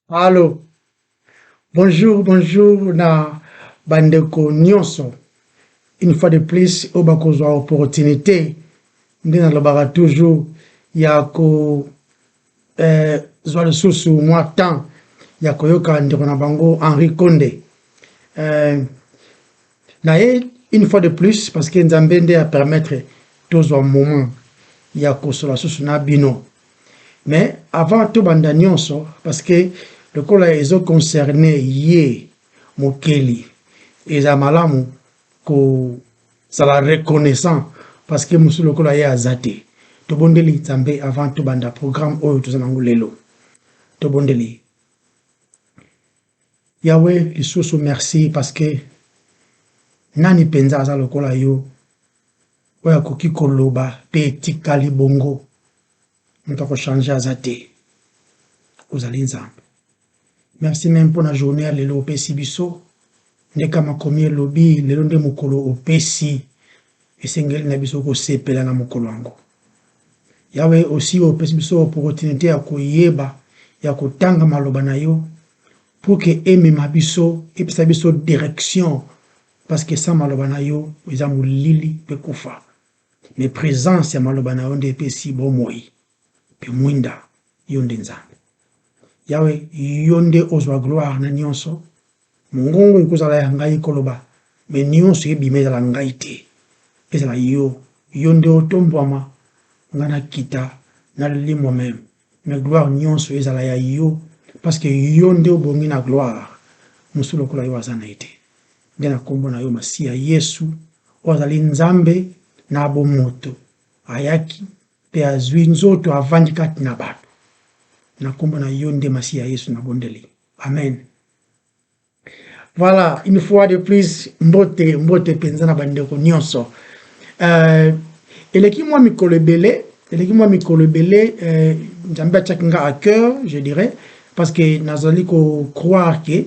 Allô Bonjour, bonjour na bandeko nyonso. Une fois de plus, oyo bakozwa opportunité nde nalobaka toujours ya kozwa eh, lisusu mwa temps ya koyoka ndeko na bango Henri Konde eh, Na ye une fois de plus parce que Nzambe nde a permettre tozwa moment ya kosola susu na bino. Mais avant tobanda nyonso parce que lokola ezo concerne ye mokeli eza malamu kozala reconnaissant parce que mosusu lokola ye aza te tobondeli nzambe avant tobanda programme oyo toza nango lelo tobondeli Yahwe lisusu merci parce que nani penza aza lokola yo oyo akoki koloba pe etikali bongo moto ako changer aza te ozali nzambe merci meme pona journée ya lelo opesi biso nde kama komi elobi lelo nde mokolo opesi esengeli na biso kosepela na mokolo yango Yawe, osi opesi biso opportunite ya koyeba, ya kotanga maloba na yo, pour que emema biso, epesa biso direction, parce que sans maloba na yo, eza molili pe kufa. Mais presence ya maloba na yo nde epesi bomoi pe mwinda, yo nde Nzambe. Yawe, yo nde ozwa gloire na nionso. Mongongo ekozala ya ngai koloba, mais nionso ebima ezala ngai te, ezala yo, yo nde otombwama, ngai nakita, nalimwa meme, mais gloire nionso ezala ya yo, parce que yo nde obongi na gloire, mosusu lokola yo aza naye te, nde na kombo na yo Masiya Yesu, oyo azali Nzambe na bomoto, ayaki pe azui nzoto avandi kati na batu, na kombo na yo nde Masiya Yesu nabondeli, amen, Voilà, une fois de plus, mbote, mbote penza na bandeko nyonso. Euh, eleki mwa mikolo ebele, eleki mwa mikolo ebele, euh, Nzambe atiaki nga à cœur, je dirais, parce que nazali ko croire que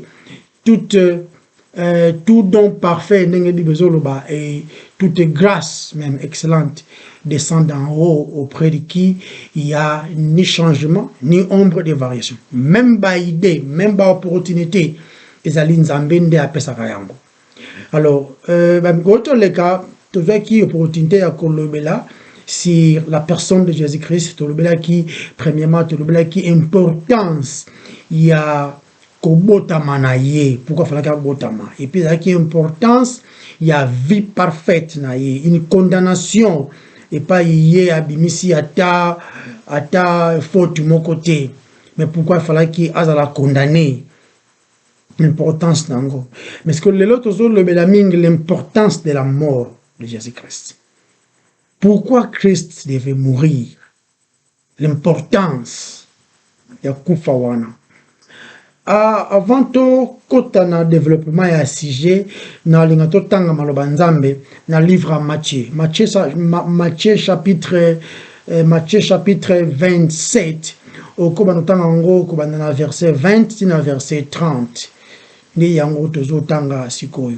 toute euh, tout don parfait ndenge bible ezoloba et toute grâce même excellente descende en haut auprès de qui il y a ni changement, ni ombre de variation. Même ba idée, même ba opportunité, ezali Nzambe nde apesaka yango. Alors, euh, ba mikoto leka tozwaki opportunité ya kolobela sur la personne de Jésus-Christ, tolobelaki premièrement, tolobelaki importance ya kobotama na ye pourquoi falaki abotama et puis ezalaki importance ya vie parfaite na ye une condamnation epai ye abimisi ata ata faute moko te mais pourquoi falaki azala condamne importance na yango mais que lelo tozolobela mingi l'importance de la mort de jésus christ pourquoi christ devait mourir L'importance ya kufa wana. Ah, avant to kota na developpement ya sujet, na linga to tanga maloba Nzambe na livre ya Matthieu. Matthieu, Matthieu chapitre eh, Matthieu chapitre 27 okoba no tanga ngo ko banda na verset 20 ti na verset 30. Nde yango tozo tanga sikoyo.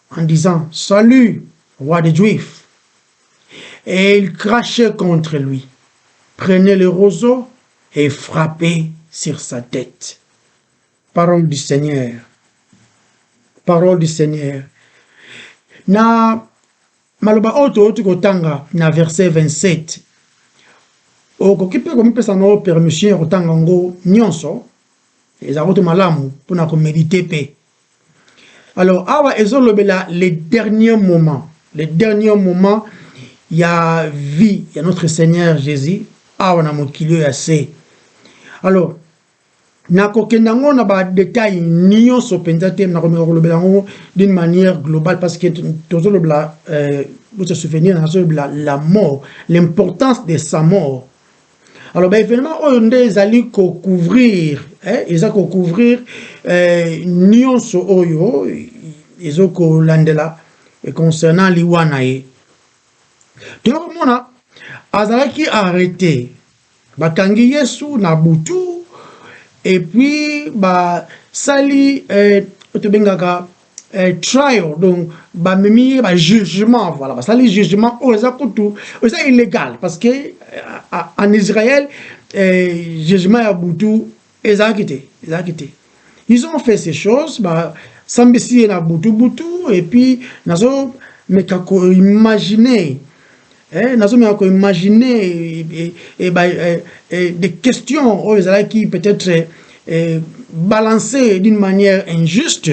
en disant salut roi des juifs et il crachait contre lui prenait le roseau et frappait sur sa tête parole du seigneur parole du seigneur na maloba oyo touti kotanga na verset 27 okoki mpe komipesa na permission ya kotanga yango nyonso ezalaki te malamu mpona komedite mpe Alors awa ezolobela le dernier moment, le dernier moment ya vie ya notre Seigneur Jésus awa na mokili ya se. Alors nakokenda yango na ba détails nyonso mpenza te, nakomeka kolobela yango d'une manière globale parce que tozolobela euh, vous se souvenir, nazolobela la mort, l'importance de sa mort alors ba événement oyo nde ezali ko couvrir eh, eza ko couvrir eh, nyonso oyo ezo kolandela eh, concernant liwa na ye toyokomona azalaki arrete bakangi yesu na butu epuis basali eh, tobengaka eh, trial donc bamemi ye bajugement voilà basali jugement oyo eza kutu eza illégal parce que euh, en israël eh, jugement ya butu ezalaki te ezalaki te ils ont fait ces choses basambisi ye na butu butu et puis nazo meka koimagine Eh, nazomeka ko imaginer eh, eh, eh, ba, eh, eh, des questions oyo ezalaki peut-être eh, eh, balancées d'une manière injuste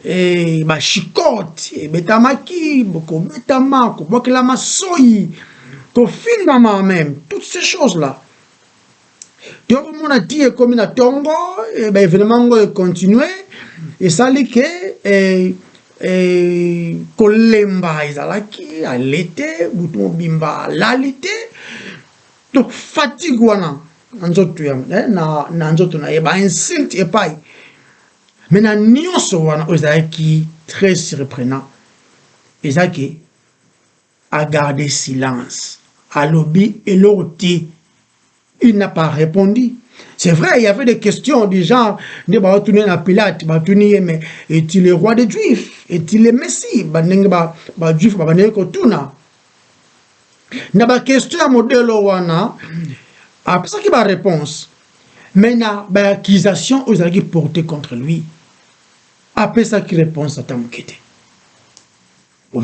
eh, bashikote ebetamaki kobetama kobwakelama soyi kofingama même toutes ces choses là tokomona ti ekomi na ntongo eh, baevenema yango ekontinue esali ke eh, eh, kolemba ezalaki ale te butu mobimba alali te to fatigue wana na nzoto ya eh, na, na nzoto na ye bainsulte epai me na nyonso wana oyo ezalaki très surprenant ezalaki a garde silence alobi eloko te il n'a pas répondu c'est vrai il y avait des questions du genre nde baotuni na pilate batuni ye mais est-il le roi des juifs est-il le messie bandenge bajuif ba babandaki kotuna na baquestion ya modelo wana apesaki baréponse mais na baaccusation oyo ezalaki porte contre lui apesaki réponse ata moke te wow.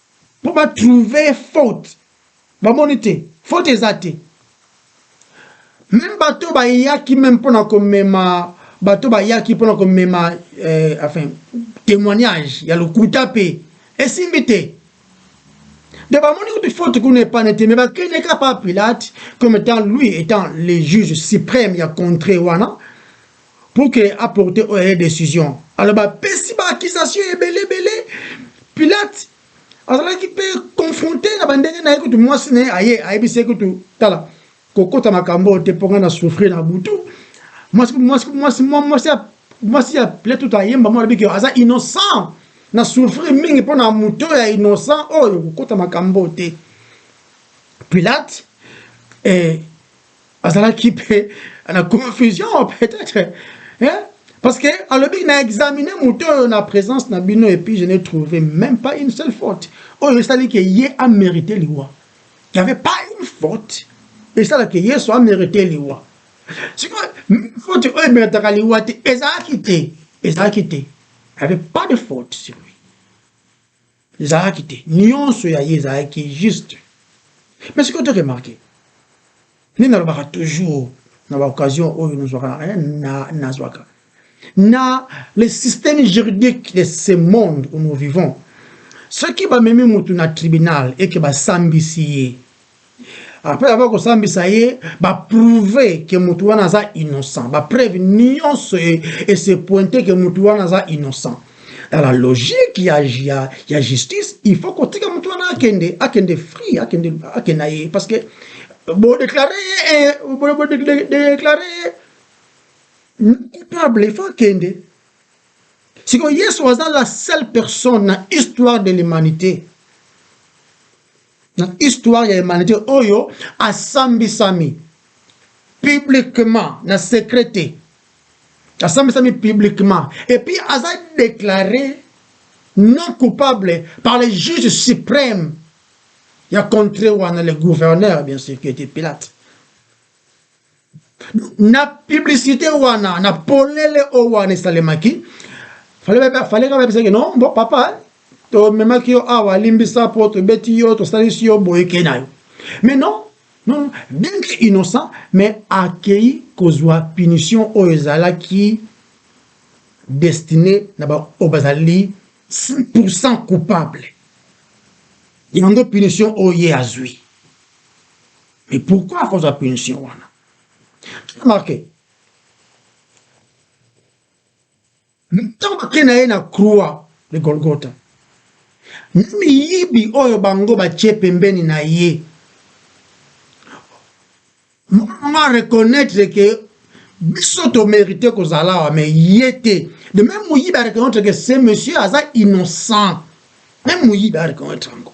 Mpo ba trouver ye faute. Bomoni te? Faute eza te. Meme bato oyo bayaki meme mpo na komema bato oyo bayaki mpo na komema eh, enfin témoignage ya lokuta mpe esimbi te donc bamoni kutu faute kuna epane te me bakende ka pa pilate comme étant lui étant le juge suprême ya contré wana pour que a porter oyo ye decision alors bapesi ba accusation ebele ebele pilate azalaki mpe confronte na bandenge na ye kutu mwasi na ye aye ayebisi ye kutu tala kokota makambo oyo te mpo ngai na souffrir na butu mwasi mwasi mwasi mwasi mwasi ya pilate kutu ayemba mwa alobi ke aza innocent na souffrir mingi mpo na moto ya innocent oyo kokota makambo oyo te pilate eh, azalaki mpe na confusion peut-être hein? parce que alobi na examine moto oyo na présence na bino et puis je n'ai trouvé même pas une seule faute oyo esali ke ye amérite liwa il y avait pas une faute esalaka yesu amérite liwa sikoyo faute oyo emeritaka liwa te ezalaki te ezalaki te il y avait pas de faute sur lui Ezalaki te. Nionso ya ye ezalaki juste. Mais sikoyo to remarquer. Nde nalobaka toujours na ba occasion oyo nazwaka eh, na nazwaka. Na le système juridique de ce monde où nous vivons. Soki bamemi mutu na tribunal et que basambisi ye Après avoir kosambisa ye, ba prouver que mutu wana aza innocent. Ba preuve nyonso et, et se pointer que mutu wana aza innocent. Dans la logique ya, ya, ya justice, il faut kotika mutu wana akende, akende free, akende, akende na ye. Parce que bo déclarer ye, eh, bo, bo déclarer ye coupable, il faut akende. Siko Yesu aza la seule personne na histoire de l'humanité na histoire ya humanité oyo asambisami publiquement na secret te asambisami publiquement et puis aza déclaré non coupable par le juge suprême ya contré wana le gouverneur bien sûr qui était Pilate na publicité wana na polele oyo wana esalemaki fale kaka yebisaki no bo papa tomemaki yo awa alimbisa mpo tobeti yo tosalisi yo boye kei na yo mais non non bien que innocent mais akei kozwa punition oyo ezalaki destiné na baoyo bazali 100% coupable yango punition oyo ye azwi Mais pourquoi akozwa punition wana? Tu remarque ntango bakei na ye na croix de Golgotha, na miyibi oyo bango batie pembeni na ye, mwana a reconnaître que biso tomerite kozala awa mais ye te de même moyibi areconnaitre ke ce monsieur aza innocent même moyibi areconnaitre yango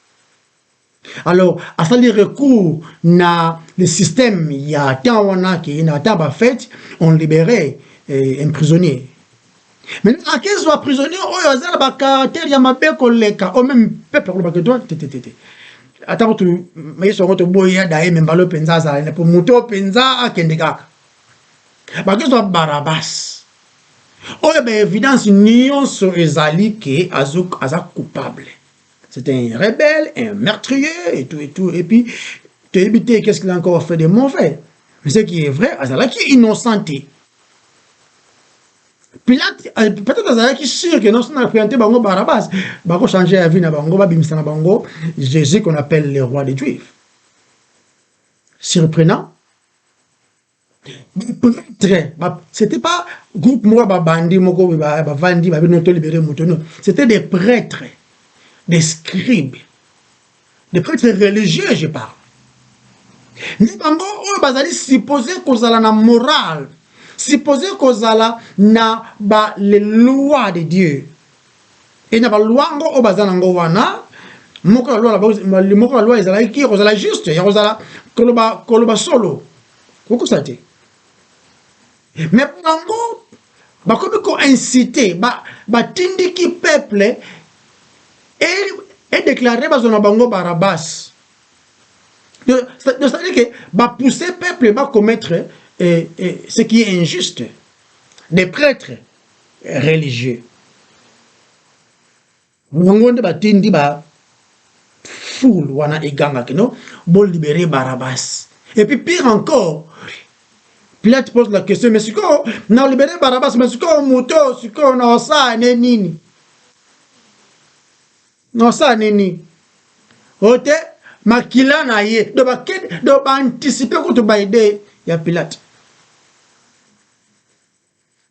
alors asali recours na le système ya temps wana ke na ata bafete on libere eh, un prisonnier maintenant akezwa prisonnier oyo aza na bacaratere ya mabe koleka o meme peuple akolobaka eto tetetete ata kutu yesu yango toboyi ya daye me mbala mpenza azala ne mpo moto oyo mpenza akende kaka bakezwa barabas oyo baevidence nyonso ezali ke aza coupable c'est un rebelle un meurtrier et tout et tout et puis toyebi te qu'est-ce qu'il a encore fait de mauvais mais ce qui est vrai azalaki innocent te pilate euh, peut-être azalaki sûr que noso na présente bango barabas bakochanger ya vie na bango babimisa na bango jésus qu'on appelle le roi des juifs surprenant prêtre ba, c'était pas groupe moko ba bandi moko ba bavandi ba bino to libérer moto non c'était des prêtres des scribes des prêtres religieux je parle ni bango oyo bazali supposé kozala na morale supposé kozala na ba les lois de Dieu e na balwa ngo oyo baza na ngo wana moko ya loi na moko ya loi ezalaki ya kozala juste ya kozala koloba koloba solo kokosa te me bango bakomi koincite batindiki ba peuple edeklare bazwa na bango barabas cestadire ke bapousse peuple bacommettre eh, eh, ce qui est injuste des prêtres religieux bango nde batindi ba foule wana eganga kino bo libere barabas et puis pire encore Pilate pose la question mais sikoyo na libere barabas mais sikoyo moto oyo sikoyo na osala ne nini na osala ne nini oyo te makila na ye do baanticipe kutu baide ya Pilate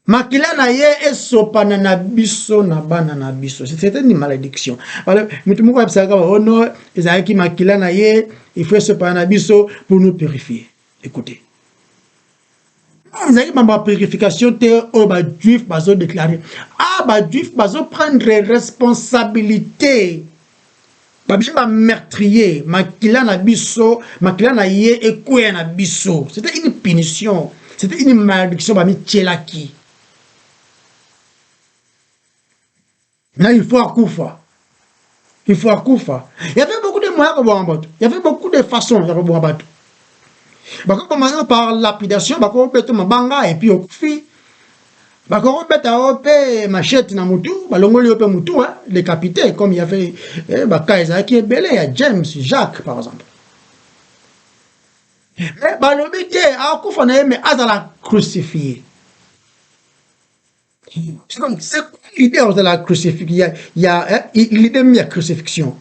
Makila na ye esopana na biso na bana na biso. C'était une malédiction. Alors, mutu moko abisaka oh non, ezalaki makila na ye, il faut esopana na biso pour nous purifier. Écoutez. ezalaki mambo ya purification te oyo bajuif bazodeklare a ah, bajuif bazoprendre responsabilité babimi ba meurtrier makila na biso makila na ye ekweya na biso c'était une punition c'était une malédiction bamityelaki na il faut akufa il faut akufa y avait beaucoup de moyens ya koboma bato y avait beaucoup de façons ya koboma bato bakoboma yo par lapidation bakobeta mabanga epuis okufi bakokobeta yo mpe machete na motu balongoli yo mpe motu le capitaine comme ya fait eh, baka ezalaki ebele ya james jacques par exemple me balobi te akufa na ye me azala crucifie donc c'est quoi l'idée ozala crucifie ya l'idée meme ya crucifixion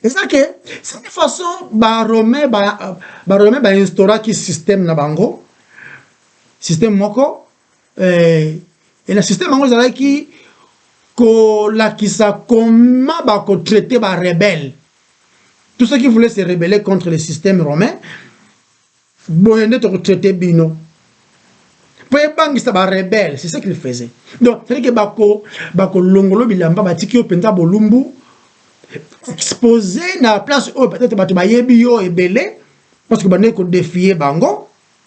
eza ke cette façon baromain bainstauraki système na bango système moko eh, et na système yango ezalaki kolakisa comment bakotraite barebelle tout ce qui voulait se rebeller contre le système romain boye nde tokotraite bino mpo ebangisa barebelle c'est ce qu'il faisait donc cetadi ke bakolongolo bilamba batiki yo mpenza bolumbu expose na place oyo peut-être bato bayebi yo ebele parce que bandeki kodefie bango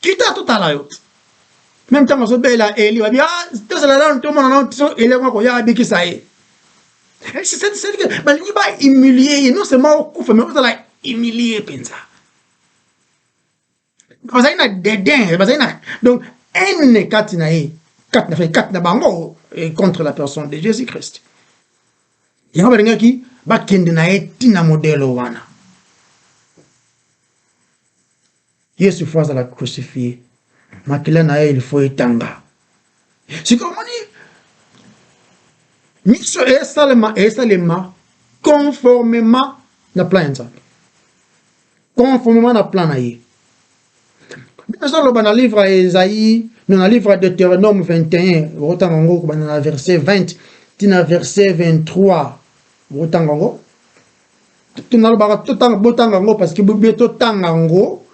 Kita totala yo. Meme ntango azobela Eli babi ah tozala nanu tomona nanu tiso Eli yango akoya abikisa ye. Eh, c'est-à-dire que balingi ba humilier ye non seulement okufa mais ozala humilier mpenza. Bazali na dédain, bazali na donc haine kati na ye, kati na kati na bango eh, contre la personne de Jésus-Christ. Yango balingaki bakende na ye ntina modelo wana. Yesu faut azala crucifie, makila na ye il faut etanga. Sikoyo omoni miso esalema esalema conformement na plan ya Nzambe, conformement na plan na ye. Bino ezoloba na livre ya Esaïe, na livre ya Deuteronome 21, okotanga yango kobanda na verset 20 tina verset 23, okotanga yango nalobaka totanga botanga yango parce que bobie totanga yango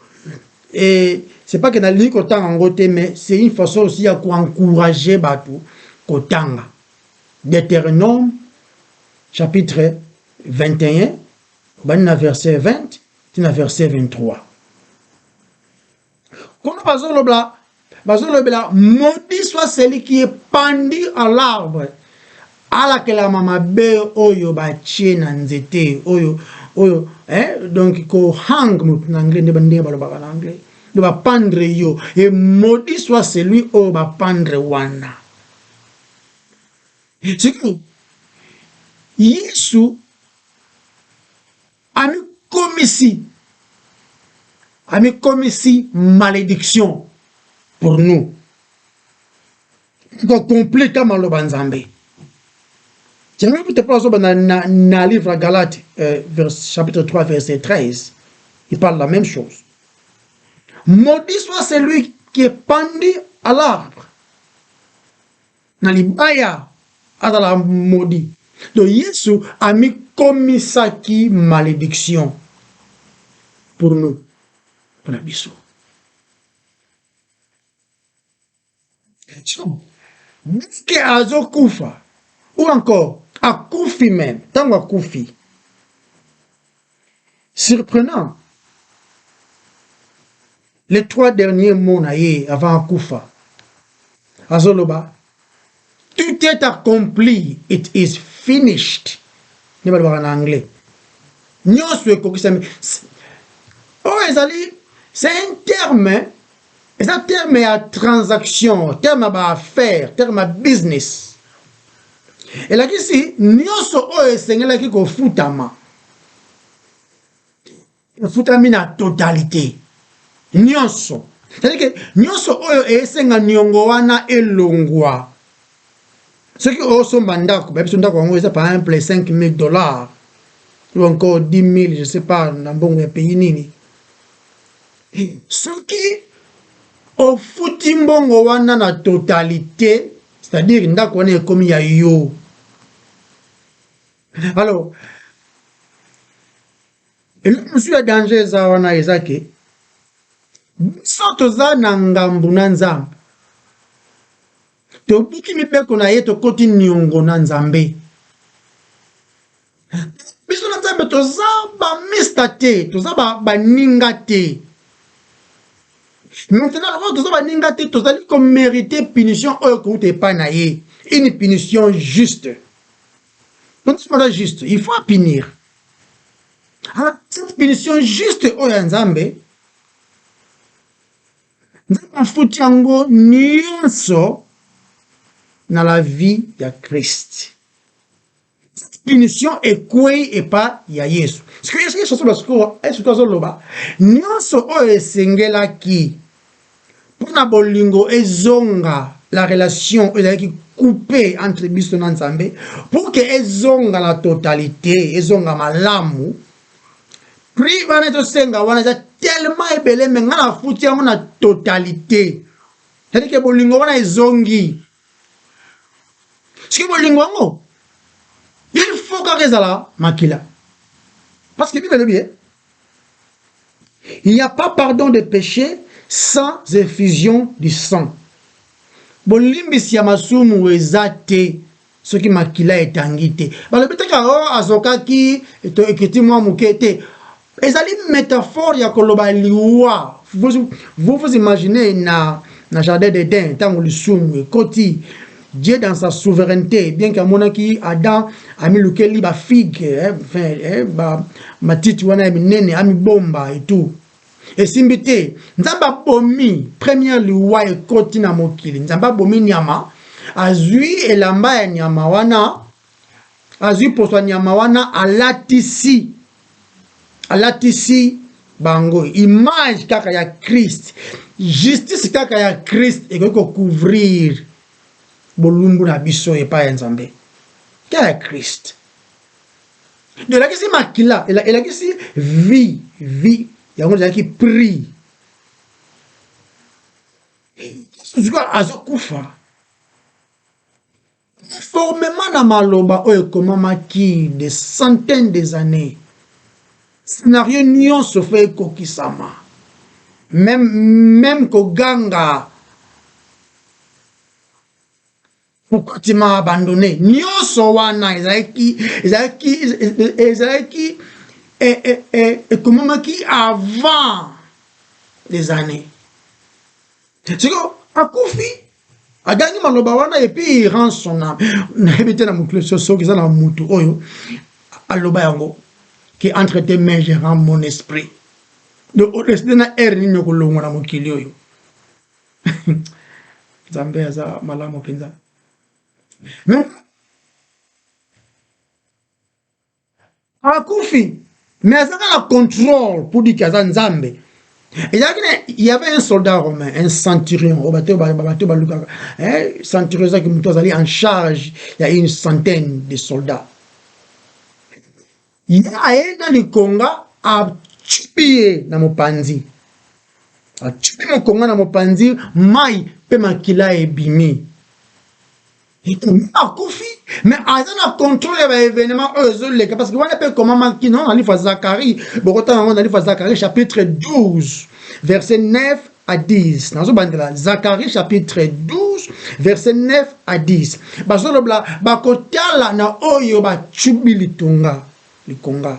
et c'est pas que nalingi kotanga yango te mais c'est une façon aussi ya koencourager bato kotanga deutéronome chapitre 21 obandi na verset 20 ti na verset 23 Kuna bazolobla bazolobela maudit soit celui qui est pendu à l'arbre alakelama mabe oyo batie na nzete oyo oyo eh, donc kohang motu na anglais nde ndenge balobaka na anglais nde bapandre yo e maudit soit celui oyo bapandre wana sikoyo yesu Amikomisi, amikomisi malediction pour nous. Ko completa maloba Nzambe. Tianga kuta pa zoba na, na, na livre ya Galate euh, vers, chapitre 3 verset 13. Il parle la même chose. Maudit soit celui qui est pendu à l'arbre. Na libaya, azalaka maudit. Donc Yesu amikomisaki malediction pour nous, pona biso. Dès que azokufa ou encore akufi meme, tango akufi Surprenant! Les trois derniers mots na ye avant akufa azoloba tout est accompli it is finished nde balobaka na anglais nyonso ekokisami oyo ezali c'est un terme eza terme ya transaction terme ya baaffaire terme ya business elakisi nyonso oyo esengelaki kofutama efutami na totalite nyonso cetadike nyonso oyo esenga niongo wana elongwa soki osomba ndako bayebi so ndako yango eza par exemple 5000 dollars ou encore 10 000 je sais pas na mbongo ya pays nini Soki ofuti mbongo wana na totalite, c'est-à-dire ndako wana ekomi ya yo. Alors, eloko mosusu ya danger eza wana eza ke biso toza na ngambo na nzambe tobuki mibeko na ye tokoti niongo na nzambe biso na nzambe toza bamista te toza baninga te maintenant lokola toza baninga te tozali komerite punition oyo kouta epai na ye une punition juste tonisikoza juste il faut apinir ah, cette punition juste oyo ya nzambe nzambe afuti yango nyonso na la vie ya kriste toute punition ekwei epa ya yesu sikoyo yesu yesu asoloba sikoyo yesu sikoyo azoloba nyonso oyo esengelaki mpo na bolingo ezonga la relation oyo ezalaki coupe entre biso na nzambe pour que ezonga na totalité ezonga malamu prix wana ezosenga wana eza tellement ebele me ngai nafuti yango na totalité c'est-à-dire que bolingo wana ezongi soki bolingo yango il faut kaka ezala makila parce que bible elobi eh? il n'y a pas pardon de péché sans effusion du sang bolimbisi ya masumu eza te soki makila etangi te balobi teka o oh, azokaki ekiti mwa moke te ezali metaphore ya koloba liwa vous vous imaginez na na jardin d'Eden ntango lisumu ekoti Dieu dans sa souveraineté bien que amonaki Adam amilukeli ba figue eh, enfin, eh, ba matiti wana ya minene amibomba et tout esimbi te nzambe abomi première liwa ekoti na mokili nzambe abomi nyama azwi elamba ya nyama wana azwi poso ya nyama wana alatisi alatisi bango image kaka ya Christ justice kaka ya Christ ekoki ko couvrir bolumbu na biso epai ya Nzambe kaka ya Christ ndio elakisi makila elakisi vie vie yango ezalaki prix sikoyo azokufa Conformement na maloba oyo ekomamaki des centaines des annees, scenario nyonso faut ekokisama, meme, meme koganga pourquoi tu m'as abandonne nyonso wana ezalaki ezalaki ezalaki eh, eh, eh, ekomamaki avant des années sikoyo akufi agangi maloba wana epuis rend son ame nayebi te na mokili soki eza na motu oyo aloba yango ke entre te main je rend mon esprit donc odeside na aire nini okolongwa na mokili oyo nzambe aza malamu mpenza akufi mais azaka na contrôle pour dire que aza nzambe ezalaki na y avait un soldat romain un centurion oyo bato bato balukaka centurion ezalaki moto azali en charge ya une centaine de soldats ye aye na likonga acubi ye na mopanzi acubi mokonga na mopanzi mai mpe makila ebimi akufi mais aza na contrôle ya baévénement oyo ezoleka parce que wana mpe ekomamaki no na lifa zakari bokotanga yango na lifa zakari chapitre 12 verset 9 à 10 nazobandela zakari chapitre 12 verset 9 à 10 bazolobela bakotala na oyo bacubi litonga likonga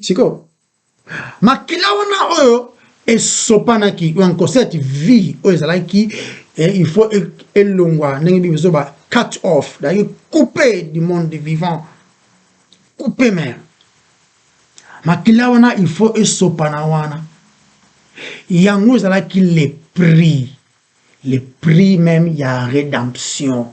Sikoyo, makila wana oyo esopanaki en concert vie oyo ezalaki eh, il faut e, elongwa ndenge bible ezoba cut off ezalaki coupe du monde vivant coupe mer makila wana il faut esopana wana yango ezalaki le prix le prix même ya rédemption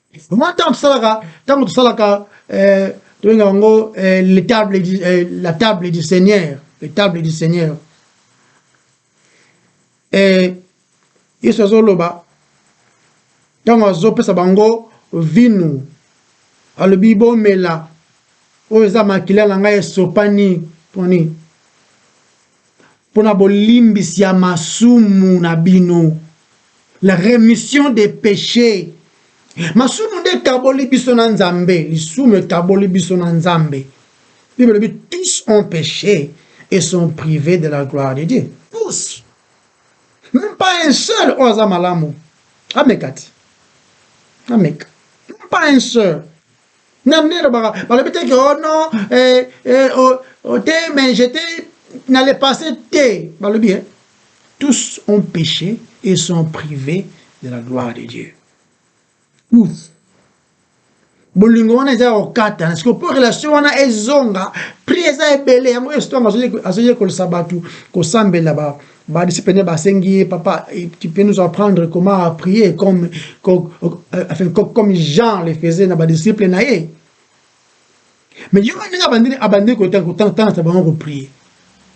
Mwa ntango tosalaka ntango tosalaka eh, tobenga yango eh, le table du, eh, la table du seigneur le table du seigneur eh, yesu azoloba ntango azopesa bango vinu alobi bomela oyo eza makila na ngai esopani poni mpo na bolimbisi ya masumu na bino, la remission des peches. Masumu nde ekaboli biso na Nzambe, lisumu ekaboli biso na Nzambe. Bible elobi tous ont peche et sont privés de la gloire de Dieu. Tous. Même pas un seul oyo aza malamu. Ameka ti. Ameka. Même pas un seul. na nde elobaka balobi te ke oh non eh, eh, oh, oh, te mais j'étais na le passé te balobi eh? tous ont péché et sont privés de la gloire de Dieu tous bolingo wana eza ya kokatana siko mpo relation wana ezonga pri eza ebele yango yesu ntango azoyekolisa bato kosambela Ba disciples ba sengi ye papa tu peux nous apprendre comment à prier comme comme, euh, enfin, comme Jean le faisait na ba disciples na ye. Mais yo ndenge abandi abandi ko tango tango tango bango ko prier.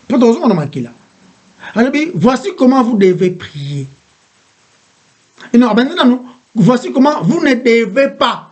Mpo tozonga na makila. Alobi voici comment vous devez prier. Et non abandi nanu voici comment vous ne devez pas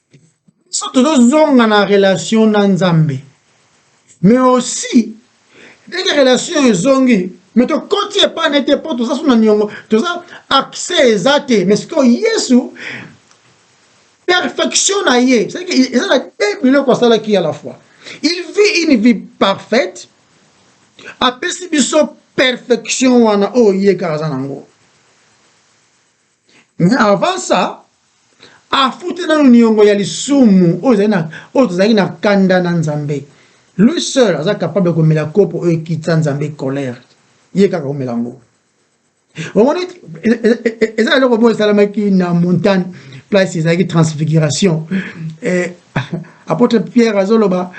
biso tozozonga na relation na nzambe mais aussi ndenge relation oyo ezongi mais tokoti epai na ete mpo toza so na niongo toza accès eza te mais sikoyo yesu perfection na ye eza na te biloko asalaki ya la fois il vit une vie parfaite apesi biso perfection wana oyo ye kaka aza na yango Mais avant ça, afuti nanu niongo ya lisumu oyo ezali na oyo tozalaki na kanda na Nzambe. Lui seul aza capable komela kopo oyo ekitisa Nzambe colère. Ye kaka omela yango. omoni eza eloko moko esalamaki na montagne place ezalaki transfiguration eh, apôtre pierre azoloba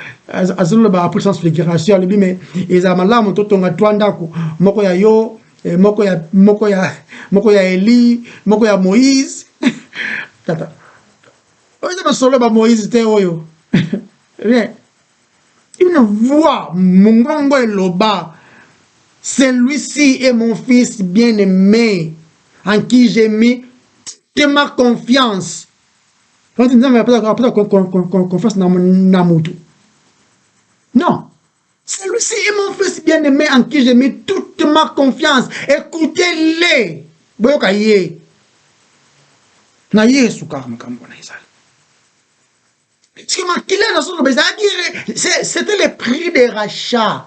azoloba apres transfiguration alobi me ezala malamu totonga twa ndako moko ya yo eh, moko ya moko ya moko ya Eli moko ya Moïse tata oyo eza masolo ba Moïse te oyo rien une voix mongongo eloba celui-ci est mon fils bien-aimé en qui j'ai mis toute ma confiance nzambe apesa confiance na motu non Celui-ci est mon fils bien-aimé en qui j'ai mis toute ma confiance. Écoutez-le. Boyoka ye. Na ye esukaka makambo na ezali. Parce que makila na solo ezalaki c'était le prix de rachat.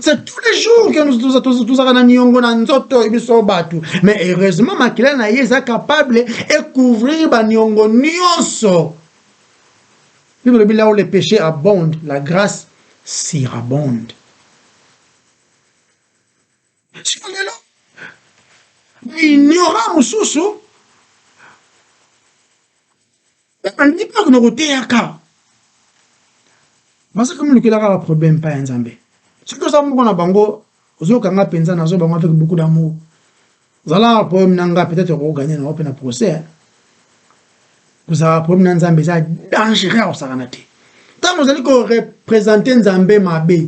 C'est tous les jours que nous tozaka na niongo na nzoto biso batu. Mais heureusement makila na ye eza capable et couvrir ba niongo nionso. Bible lobi là où le péché abonde, la grâce surabonde. Sikoyo lelo ignorant mosusu balingi mpe bakende koteyaka baza kami lukela kaka problème mpa ya nzambe soki oza moko na bango ozokanga mpenza nazo bango avec beaucoup d'amour zalaka problème na nga peut-être okoganye nango mpe na procès kozalaka problème na nzambe eza dangereux akosakana te ntango ozali korepresente nzambe mabe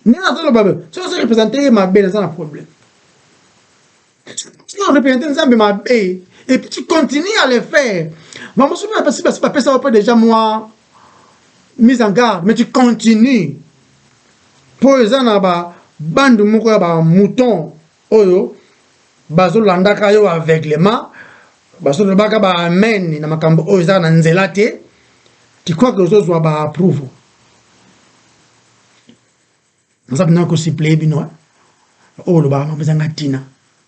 ndenge nazoloba boye soki ozo represente ye mabe naza na problème soki orepresente nzambe mabe et puis tu continues à le faire bamosusu mpe bapesi basi bapesa yo mpe déjà mwa mise en garde mais tu continues mpo eza na babandu moko ya bamouton oyo bazolandaka yo aveuglement bazolobaka ba amen na makambo oyo eza na nzela te tu crois que ozozwa ba approuve naza mpena kosipleye bino oyo oh, olobaka makambo ezanga ntina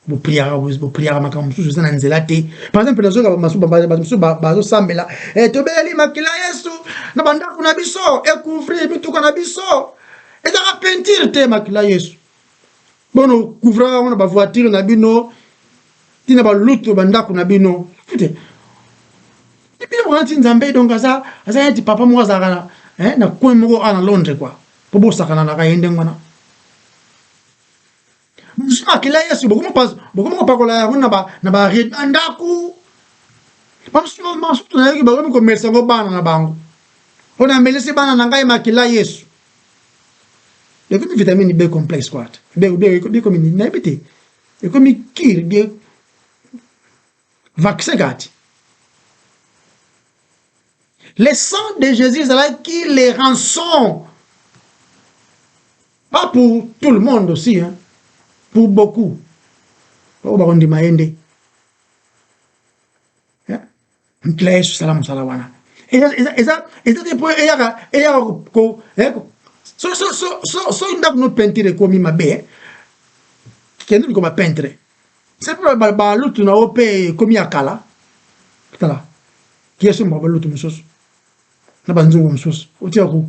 bopriaka makambo mosusu eza na nzela te par exemple nazoyoka bato mosusu bazosambela eh, tobeleli makila yesu na bandako na biso ekouvrir mituka na biso ezaka pentire te makila yesu bono couvraka yango na bavoiture na bino ti na balutu bandako na bino te bino wana ti nzambe donc aza aza neti papa moko azalaka eh, na coin moko awa na londres kua mpo bosakananaka ye ndenge wana bozwi makila yesu bokomi kopakola yango na baride na ndako basusu nayoki bakomi komelisa yango bana na bango oyo namelisi bana na ngai makila yesu ekomi vitamine b complexe quoi ekomi nini nayebi te ekomi kiri bie vaccin kati le sang de jésus ezalaki le rançon pas pour tout le monde aussi hein? pour beaucoup oyo bakondima ye nde nkila yesu sala mosala wana eza te mpo eyaka eyaka eh, soki ndako no peinture ekomi mabe eh, kende likoma peintre se mpe balutu na yo mpe ekomi ya kala tala yesu moko balutu mosusu na banzungu mosusu otika ko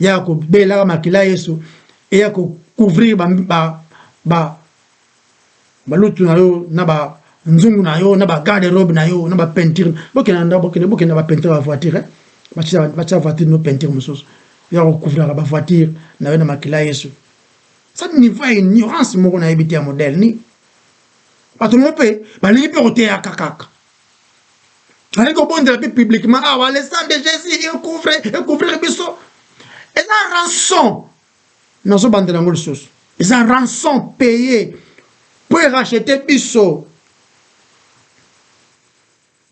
ya kobelaka makila yesu eya kocouvrir balutu na yo na banzungu na yo na bagarde robe na yo na bapeinture bokenda nda bokende bokenda bapeinture ya voiture eh? batya voiture no peinture mosusu ya kokouvraka bavoiture na yo na makila yesu sa niveau ya ignorance moko nayebi te ya modele nini bato moko mpe balingi mpe koteyaka kaka nazali kobondela mpe publiquement awa ah, le sang de jésus ecouvre ecouvrir biso eza rançon nazobandela yango lisusu eza rançon paye mpo erachete biso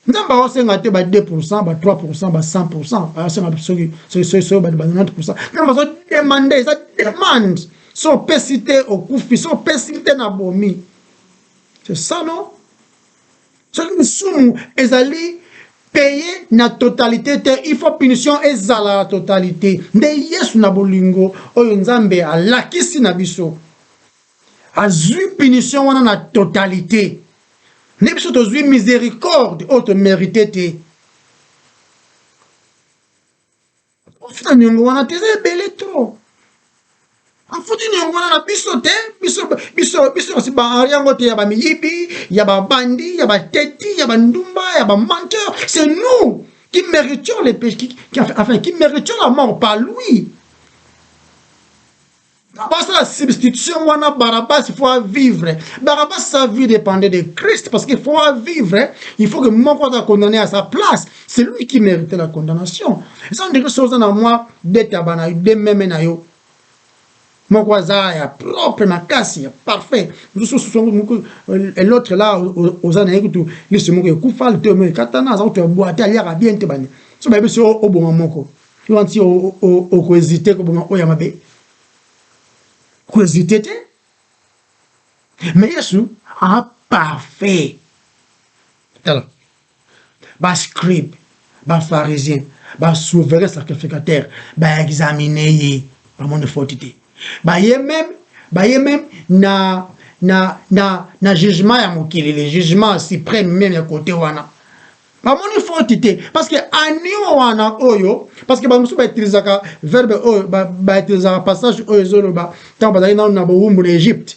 nzambe aosenga te ba 2 pourcent ba 3 pourcent ba 100 pourcent aosenga soki soki ba 90 pourcent nzambe azodemande eza demande so opesi te okufi so opesi te na bomi c'est ça non soki lisumu ezali peye na totalite te il faut punition ezala na totalite nde yesu na bolingo oyo nzambe alakisi na biso azwi punition wana na totalite nde biso tozwi misericorde oyo tomerite te Afuti na niongo wana te eza ebele trop. Afuti niongo wana na biso te, biso biso biso kasi ba yango te ya ba miyibi, ya ba bandi, ya ba teti, ya ba ndumba, ya ba menteur, c'est nous qui méritions les péchés, qui, qui, enfin, qui méritions la mort par lui. basala substitution wana barabas il faut avivre barabas sa vie dépendait de christ parce qu'il faut avivre il faut que moko aza condamné à sa place c'est lui qui méritait la condamnation eza ndenge so oza na mwa detaba na dememe na yo moko aza ya propre makasi ya parfait mosusu euh, l'autre là oza na ye kutu liso moko ekufa liteo moko ekatana aza kutu ya bwate aliaka bien te bani so bayebi so oboma moko Yo anti oko hésiter koboma oyo ya mabe, oko hésiter te. Mais Yesu a parfait. Tala ba scribe ba pharisien ba souverain sacrificateur ba examine ye bamoni faute te baye meme baye meme na na na na jugement ya mokili le jugement suprême meme ya kote wana bamoni faute te parce que anio wana oyo parce que bamosusu bautilisaka verbe oyo bautilisaka passage oyo ezoloba ntango bazali nano na bowumbu na egypte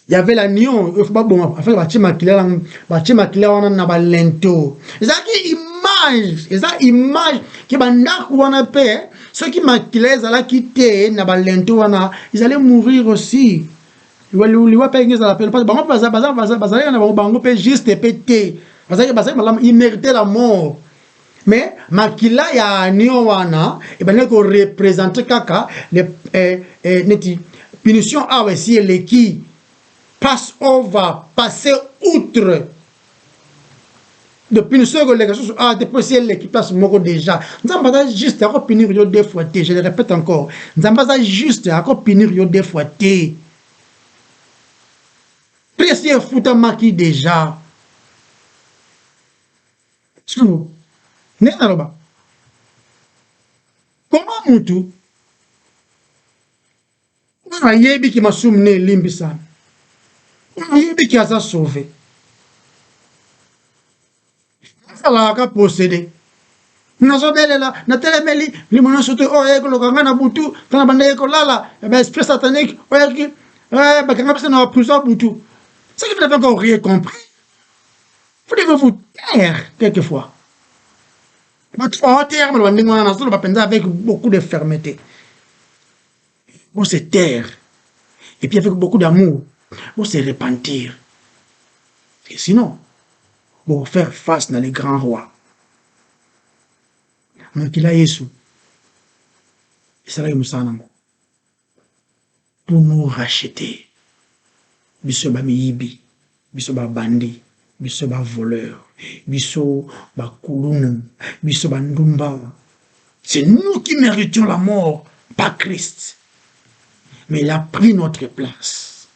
y avait la nion oyo baboma afin batie makila na batie makila wana na balento ezalaki image eza image ke bandako wana mpe soki makila ezalaki te na balento wana ezali mourir aussi liwa liwa liwa pe ingi ezala pe parce bango baza baza baza bazalaki na bango bango pe juste pe te bazalaki bazalaki malamu il mérite la mort mais makila ya anio wana ebandaki ko représenter kaka le eh, eh, neti punition awa esi eleki passe over passe outre depuis nous sommes les ressources ah depuis c'est les qui passe moko déjà nzamba ça juste encore punir yo deux fois je le répète encore nzamba ça juste encore punir yo deux fois té presse ya futa maki déjà sikoyo ndenge naloba koma mutu oyo ayebi ke masumu ne elimbisami oyo ayebi ke aza sauve azalaka ka posede nazobelela natelemeli limo nyonso te oyo ayei koloka ngai na butu ntango na bandaki kolala eh baesprit satanique oyaki eh, bakanga biso na baprison butu ce que vous n'avez encore rien compris vous devez vous taire quelquefois bato baoteyaka maloba ndenge wana nazoloba mpenza avec beaucoup de fermeté bo se taire et puis avec beaucoup d'amour bo se repentir et sinon bo faire face na le grand roi mokila yesu esalaki mosala nango pour nous racheter biso ba miyibi biso ba bandit biso ba voleur biso ba kulunu biso ba ndumba c'est nous qui meritions la mort pas christ mais il a pris notre place.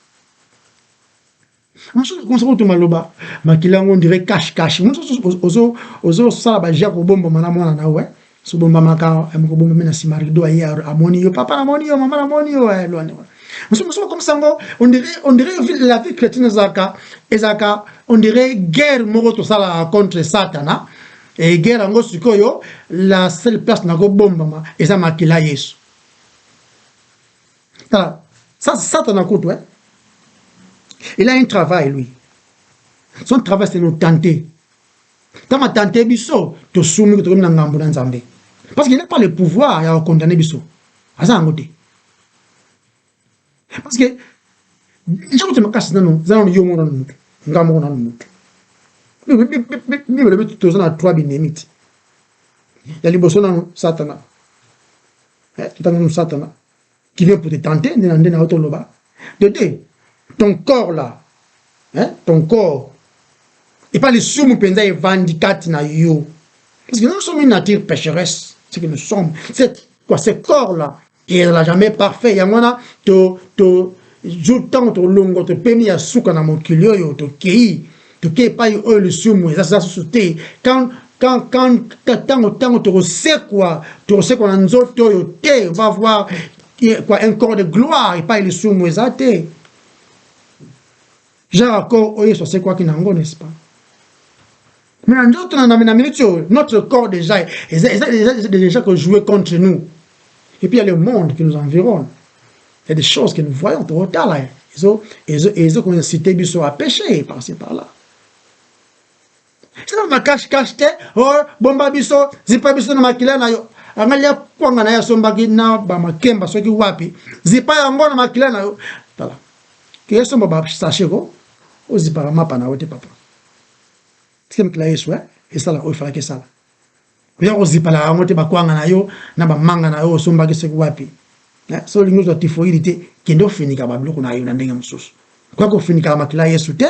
mosusu okomisa kutu maloba makila yango ondire cash cash mosusu ozosala baje ya kobombama na mwana na we sobombamaka eh, mokobombami na nsima rido aye amoni yo papa namoni yo mama namoni yo eh, lwani wana mosusu mosusu okomisa yango ondire la vie chrétienne ezalaka ezalaka ondire guerre moko tosalaka contre satana e guerre yango sikoyo la seule place nakobombama eza makila yesu Tala, ça c'est Satan kutu hein. Il a un travail lui. Son travail c'est nous tenter. Tant ma tante biso to sumi to na ngambo na Nzambe. Parce qu'il n'a pas le pouvoir ya condamner biso. Aza yango te. Parce que ntango te makasi nano eza nano yo moko nano motu nga moko nano motu bibele beti toza na trois binemi ti ya liboso nano satana eh, totangi nano satana qui vient pour te tenter nde na nde na otoloba dede ton corps là hein ton corps epa lisumu mpenza evandi kati na yo parce que nous sommes une nature pécheresse ce que nous sommes c'est quoi ce corps là ezala jamais parfait yango wana to to jour ntango tolongo topemi ya suka na mokili oyo tokei toke epai oyo lisumu eza sasa susu te ntango ntango tokosekwa tokosekwa na nzoto oyo te va voir kwa un corps de gloire epai lisumu eza te genre accord oyo yesu asekwaki na yango n'est-ce pas mais na nzoto na na minute oyo notre corps déjà eza déjà kojoue contre nous et puis il y a le monde qui nous environne Il y a des choses que nous voyons, totala, ezo, ezo, ezo ko inciter biso à pécher par ci par là. Sina na cache cache te, oh, bomba biso, zipa biso na makila na yo. Angali ya kwanga na ya sombaki na ba makemba soki wapi, zipa yango na makila na yo. Tala. Ke somba ba sachet ko, ozipaka mapa na yo te papa. Sike mikila Yesu, eh, esala oyo falaki esala. oya kozipalaka yango te bakwanga na yo na bamanga na yo osombaki soki wapi eh, so olingi ozwa tifoidi te kende ofinika babiloko na yo na ndenge mosusu okoya kofinikaka makila yesu te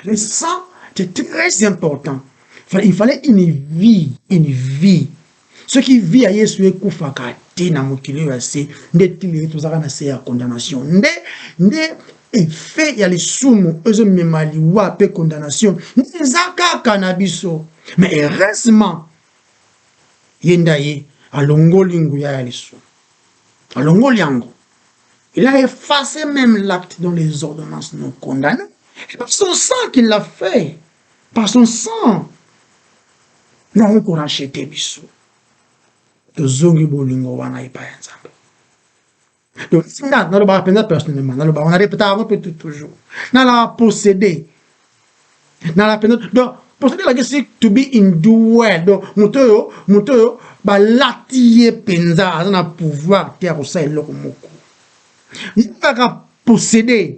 le sang c'est très important il fallait une vie une vie soki vie ya yesu ekufaka te na mokili oyo ya se nde tilele tozalaka na se ya condamnation nde nde efe ya lisumu ezomema liwa mpe condamnation nde eza kaka na biso ma heureusement ye nda ye alongoli nguya ya lisumu alongoli yango il a effacé même l'acte dont les ordonnances nous condamnent et par son sang qu'il l'a fait Par son sang yango ko racheter biso tozongi bolingo wana epai ya Nzambe. Donc nga nalobaka mpenza personnellement nalobaka na repetaka yango mpe tout toujours nalaka posséder nalaka mpenza donc posséder elakisi to be in duel donc moto oyo moto oyo balati ye mpenza aza na pouvoir te ya kosala eloko moko nalaka posséder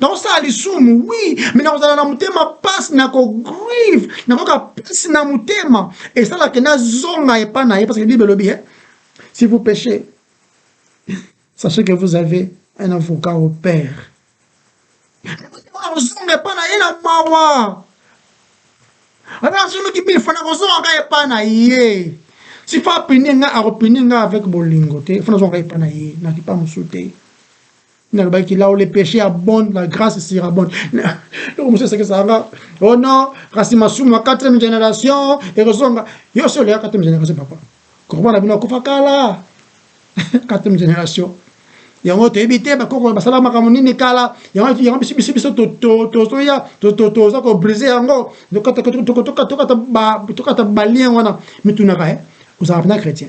nakosala lisumu wi me nakozala na motema mpasi nakogrive nakoyoka mpasi na motema esalaka nazonga epa na ye parce que bible elobi eh? si vous péchez sachez que vous avez un avocat au père nakozonga epa na ye na mawa ata nasonoki mille fois nakozongaka epa na ye si fa apini nga akopini nga avec bolingo te fo nazongaka epa na ye nakipa mosusu te nalobaki là où le péché abonde la grâce surabonde loko mosusu esekisaka nga oh non kasi masumu ya quatrième génération ekozonga yo osi oleka quatrième génération papa korobana bino akufa kala quatrième génération yango toyebi te bakoko basala makambo nini kala yango biso biso biso tozoya toza kobrise yango tokata balien wana mitunaka ozalaka mpena chrétien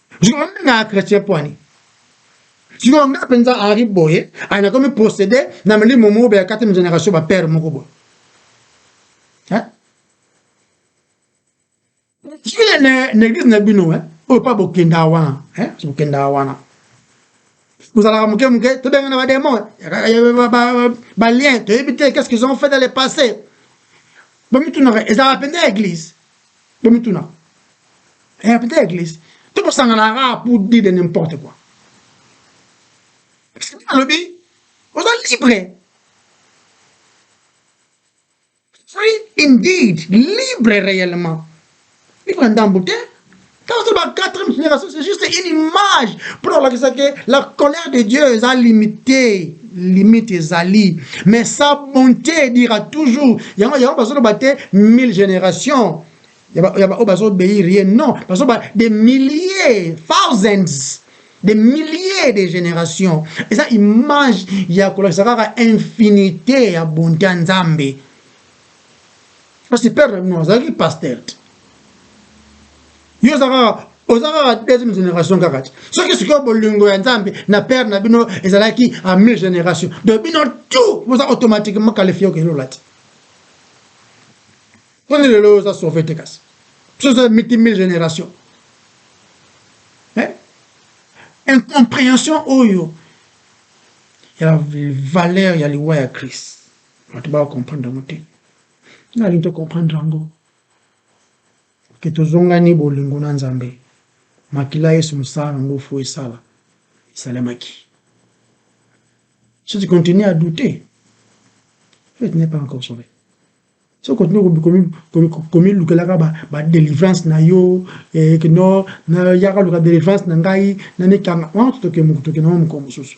sikoyo nde na chrétien pwani sikoyo nga mpenza henri boye aya nakomi procédé na milimo moko boye ya quatrième génération bapère moko boye sikoyo na église na bino oyo mpa bokendaka wana bokendaka wana bozalaka moke moke tobengana bademon balien toyebi te qu'est ce qu'ils ont fait dans le passé bomitunaka ezalaka mpenza église bomituna eh, peut être eglise to tosangana kaka pour dire de n'importe quoi parce que bino alobi oza libre free indeed libre réellement libre ndambo te Dans la quatrième génération, c'est juste une image pour la colère de Dieu est limitée. limite ezali mais sa bonté dira toujours yango yango bazoloba te mille génération ya baoyo bazobeir ye non bazoba des milliers thousands des milliers de générations eza image ya kolakisa kaka infinité ya bonté ya nzambe Kasi père na bino azalaki pasteur te. Yo oza kaka oza kaka deuxième génération kaka te. Soki sikoyo bolingo ya Nzambe na père na bino ezalaki à mille génération. Donc bino tout boza automatiquement qualifié ke lola te. Prenez le lot oza sauvé te kasi. Biso oza miti mille génération. Hein? Incompréhension oyo ya valeur ya liwa ya Christ. Batu ba comprendre yango te. Nga nalingi to comprendre yango ke tozongani bolingo na Nzambe. Makila Yesu mosala na ngo fo esala esalemaki. Si tu continues à douter, faith n'est pas encore sauvé. So continue komilukelaka ba delivrance na yo eh, kino na yaka luka delivrance na ngai na mikanga wana totoke mokutoke na mwa mokolo mosusu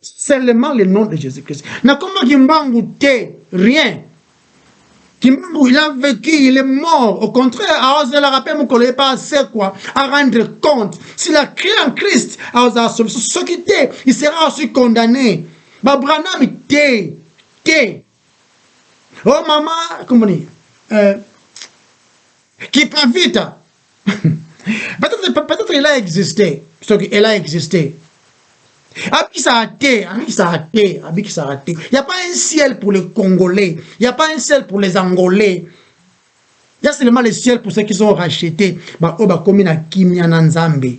Seulement le nom de Jésus-Christ. Na kombo Kimbangu te, rien. Kimbangu, il a vécu, il est mort. Au contraire, aozelaka mpe mokolo ye mpe asekwa, a rendre compte. S'il a créé en Christ, aozala solution. Soki te, il sera aussi condamné. Ba Branham te, te. Oh mama, kombo nini? Euh, Kipavita. peut-être il a existé soki elle a existé abikisaka te abikisaka te abikisaka te y a pas un ciel pour les congolais y a pas un ciel pour les angolais y a seulement le ciel pour ceux qui sont rachetés baoyo bakomi na kimia na nzambe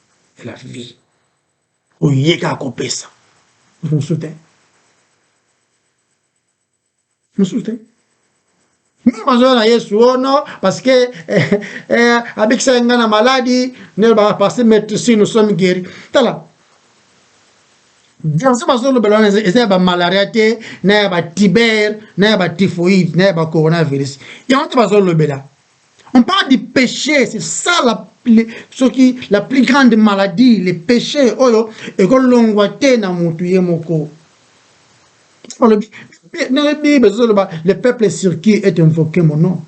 la vie oyo ye kaka akopesa mosusu te mosusu te meme bazoya na yesu o oh no parce que eh, eh, abikisaki ngai na maladi nde lobaka parce metrisi nous sommes guéri tala verse bazolobela wana eza ya bamalaria te na ya batiber na ya batifoide na ya bacoronavirus yango te bazolobela On parle du péché, c'est ça la, le, ce qui, la plus grande maladie, le péché, oyo, ekolongwa te na mutu ye moko. Le peuple sur qui est invoqué mon nom,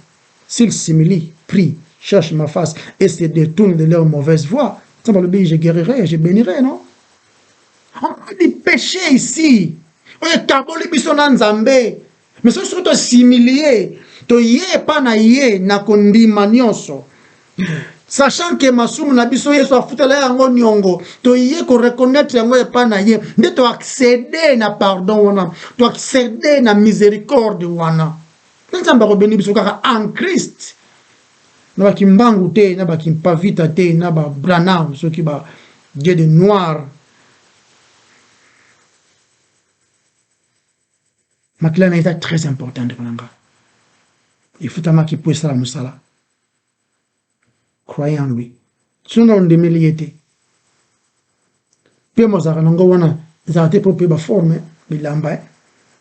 s'il s'humilie, prie, cherche ma face et se détourne de leur mauvaise voie, ça va le je guérirai, je bénirai, non On parle du péché ici. Oyo etaboli biso na Nzambe. Mais soki soki to s'humilier, toye epa na ye na kondima nyonso. Sachant que masumu na biso Yesu afutela yango niongo, toye ko reconnaître yango epa na ye, nde to acceder na pardon wana, to acceder na misericorde wana. Nde Nzambe akobeni biso kaka en Christ. Na ba Kimbangu te, na ba Kimpavita te, na ba Branham soki ba Dieu de noir Makila na ye eza très important ndeko na nga. Efutamaki mpo esala mosala. Croyez en lui. Soki na ondimeli ye te. Mpe mozalaka na ngo wana ezalaka te mpo mpe ba forme bilamba eh,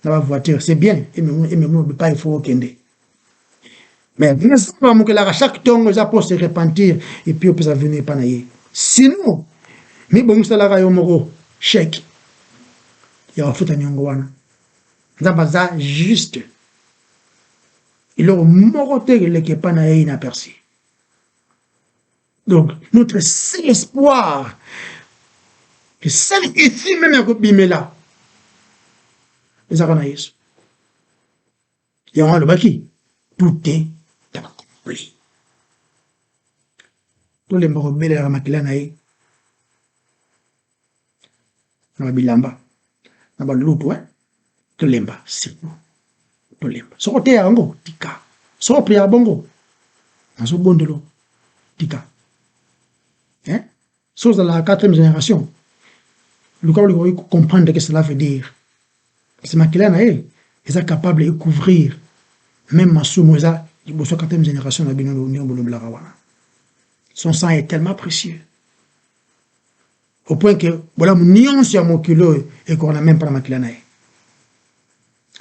na ba voiture c'est bien ememoi bipai fo okende. mais nzambe amokelaka chaque ntongo eza mpo se repentir epuis opesa vino epa na ye sinon mibongiselaka yo moko sheke ya kofuta niongo wana nzambe aza juste eloko moko te eleki epa na ye inaperci donc notre seul espoir le seul issue meme ya kobimela ezaka na yesu Yango alobaki tout est accompli. Tolemba kobelelaka makila na ye na babilamba na balutu eh? tolemba siko tolemba soko oteya yango tika soko opriyaka bongo nazobondolo tika eh? Soki ozalaka quatrième generation, luka olinga oyebi ko comprendre que cela veut dire. Kasi makila na ye eza capable e couvrir meme masumu eza liboso ya quatrième generation na bino ndenge bolobelaka wana. Son sang est tellement précieux. Au point que bolamu nyonso ya mokili oyo ekokana meme pas na makila na ye.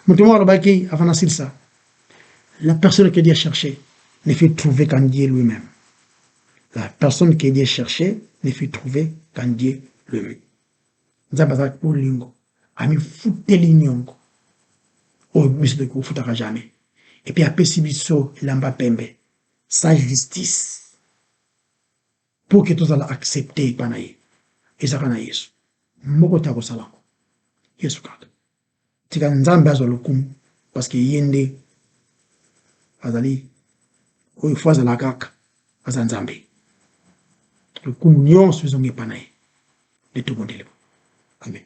Moto moko alobaki avant nasilisa, la personne que Dieu cherchait ne fut trouvée qu'en Dieu lui-même. La personne que Dieu cherchait ne fut trouvée qu'en Dieu lui-même. Nzambe azalaki bolingo, amifuteli nyongo oyo biso toki kofutaka jamais, epuis apesi biso elamba pembe, sa justice pour que tozala accepte epa na ye ezaka na Yesu moko te akosalako Yesu kaka. Tika nzambe azwa lokumu parce que ye nde azali oyo il faut azala kaka aza nzambe lokumu nyonso ezonga epa na ye nde tobondeli bo amen